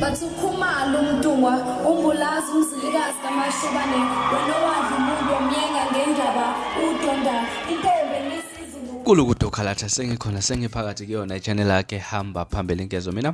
Bathi ukhumalo umntungwa umbulazi umzilikazi kamashobane wena owadla umuntu omyenga ngendaba udonda intombi enisizulu kulukudo khalatha sengikhona sengiphakathi kuyona ichannel yakhe hamba phambili nkezo mina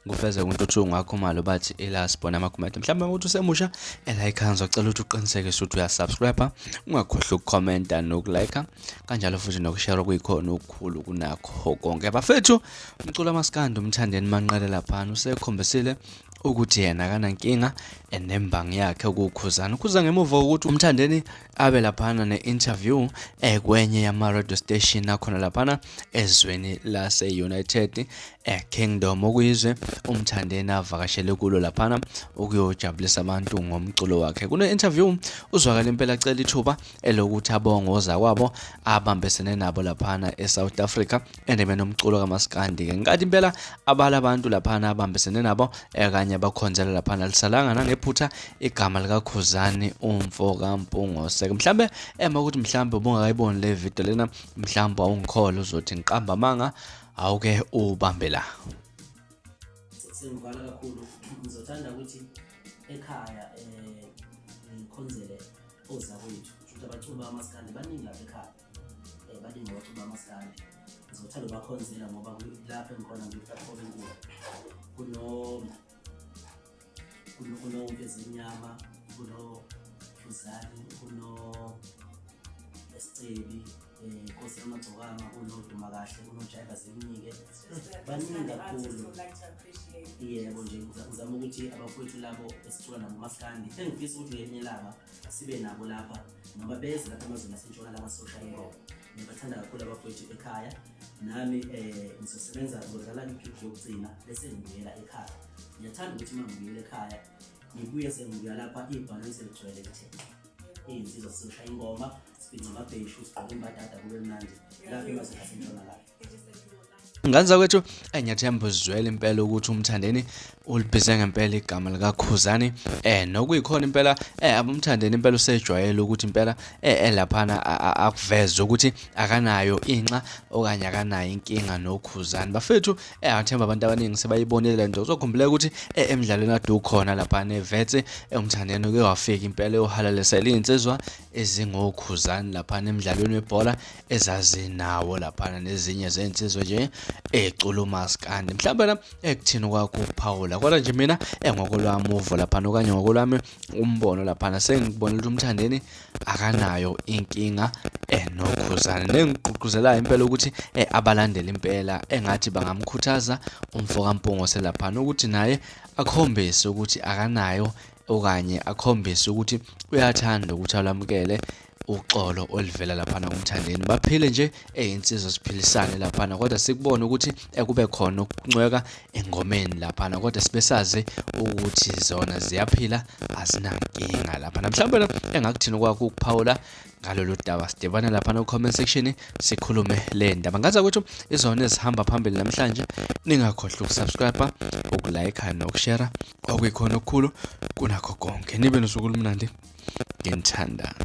ngufeze kuntuthu ngakho malo bathi elas bona amagumedo mhlawumbe ukuthi usemusha elayikha ngizocela ukuthi uqiniseke ukuthi uyasubscribe ungakhohlwa ukukhomenta nokulike kanjalo futhi nokushare kuyikhona okukhulu kunakho konke bafethu Umcula maskandi umthandeni manqele laphana usekhombisile ukuthi yena akanankinga and nembangi yakhe ukukhuzana ukhuza ngemuva ukuthi umthandeni abe laphana ne-interview eh, kwenye yama-radio station akhona laphana ezweni lase-united eh, kingdom okuyizwe umthandeni avakashele kulo laphana ukuyojabulisa abantu ngomculo wakhe kune-interview uzwakala impela cela ithuba elokuthi abonge ozakwabo abambesene nabo laphana eSouth Africa endemeni omculo kamaskandi ke nkathi impela abala abantu laphana abambesene nabo ekanye abakhonzela laphana lisalanga nangephutha igama likakhuzani umfo kampungose mhlambe ema ukuthi mhlambe ubungakayiboni le video lena mhlambe awungikhole uzothi ngiqamba amanga awuke ubambe la sengibhala kakhulu ngizothanda ukuthi ekhaya um ngikhonzele ozakwethu shuthi abaculi bamaskandi baningi lapha ekhaya um baningi abaculi bamaskandi ngizothanda ubakhonzela ngoba lapho engikhona ngiplatform enkulu kuno kunomfezimnyama kuno fuzani kuno esicebi um nkosi yamagcokama unoduma kahle unojayiva zimnike baningi kakhulu yebo nje uzama ukuthi abafowethu labo esithola nabo maskandi engifisa ukuthi ngelinye ilanga sibe nabo lapha ngoba beze lapha emazweni asentshona laba sosha ingoma ngibathanda kakhulu abafowethu ekhaya nami um eh, ngizosebenza ngizodlala iphiphi yokugcina bese ngibuyela ekhaya ngiyathanda ukuthi uma ngibuyela ekhaya ngibuye sengibuya lapha ibhanoyi seligcwele kuthe iy'nsizwa sisosha ingoma ngane zakwethu eyi ngiyathemba uzizwele impela ukuthi umthandeni ulibhize ngempela igama likakhuzani eh nokuyikhona impela eh abumthandeni impela usejwayele ukuthi impela eh elaphana akuveze ukuthi akanayo inxa okanye akanayo inkinga nokhuzani bafethu eh athemba abantu abaningi sebayibonile le nto uzokhumbuleka ukuthi eh emidlalweni adu khona lapha nevetse eh, umthandeni uke wafika impela yohalalesela iy'nsizwa ezingokhuzani laphana emdlalweni webhola ezazinawo laphana nezinye zensizwe nje ecula umaskandi mhlawumbe na ekuthini kwakho ukuphawula kodwa nje mina engokolwami uvo laphana okanye ngokolwami umbono laphana sengibonela ukuthi umthandeni akanayo inkinga enokhuzane nengigqugquzelayo impela ukuthi eh, abalandele impela engathi bangamkhuthaza umfoka mpungo selaphana ukuthi naye akhombise ukuthi akanayo okanye akhombise ukuthi uyathanda ukuthi alamukele uxolo olivela laphana kumthandeni baphile nje eyinsizwa siphilisane laphana kodwa sikubona ukuthi ekube khona ukuncweka engomeni laphana kodwa sibesazi ukuthi zona ziyaphila azinankinga laphana mhlawumbe engakuthini kwakho ukuphawula ngalolu daba sidibane laphana ku-comment section sikhulume le ndaba ngaza ukuthi izona ezihamba phambili namhlanje ningakhohlwa ukusubscribe ukulayikha nokushera okuyikhona okukhulu kunakho konke nibe nosuku olumnandi ngenithandana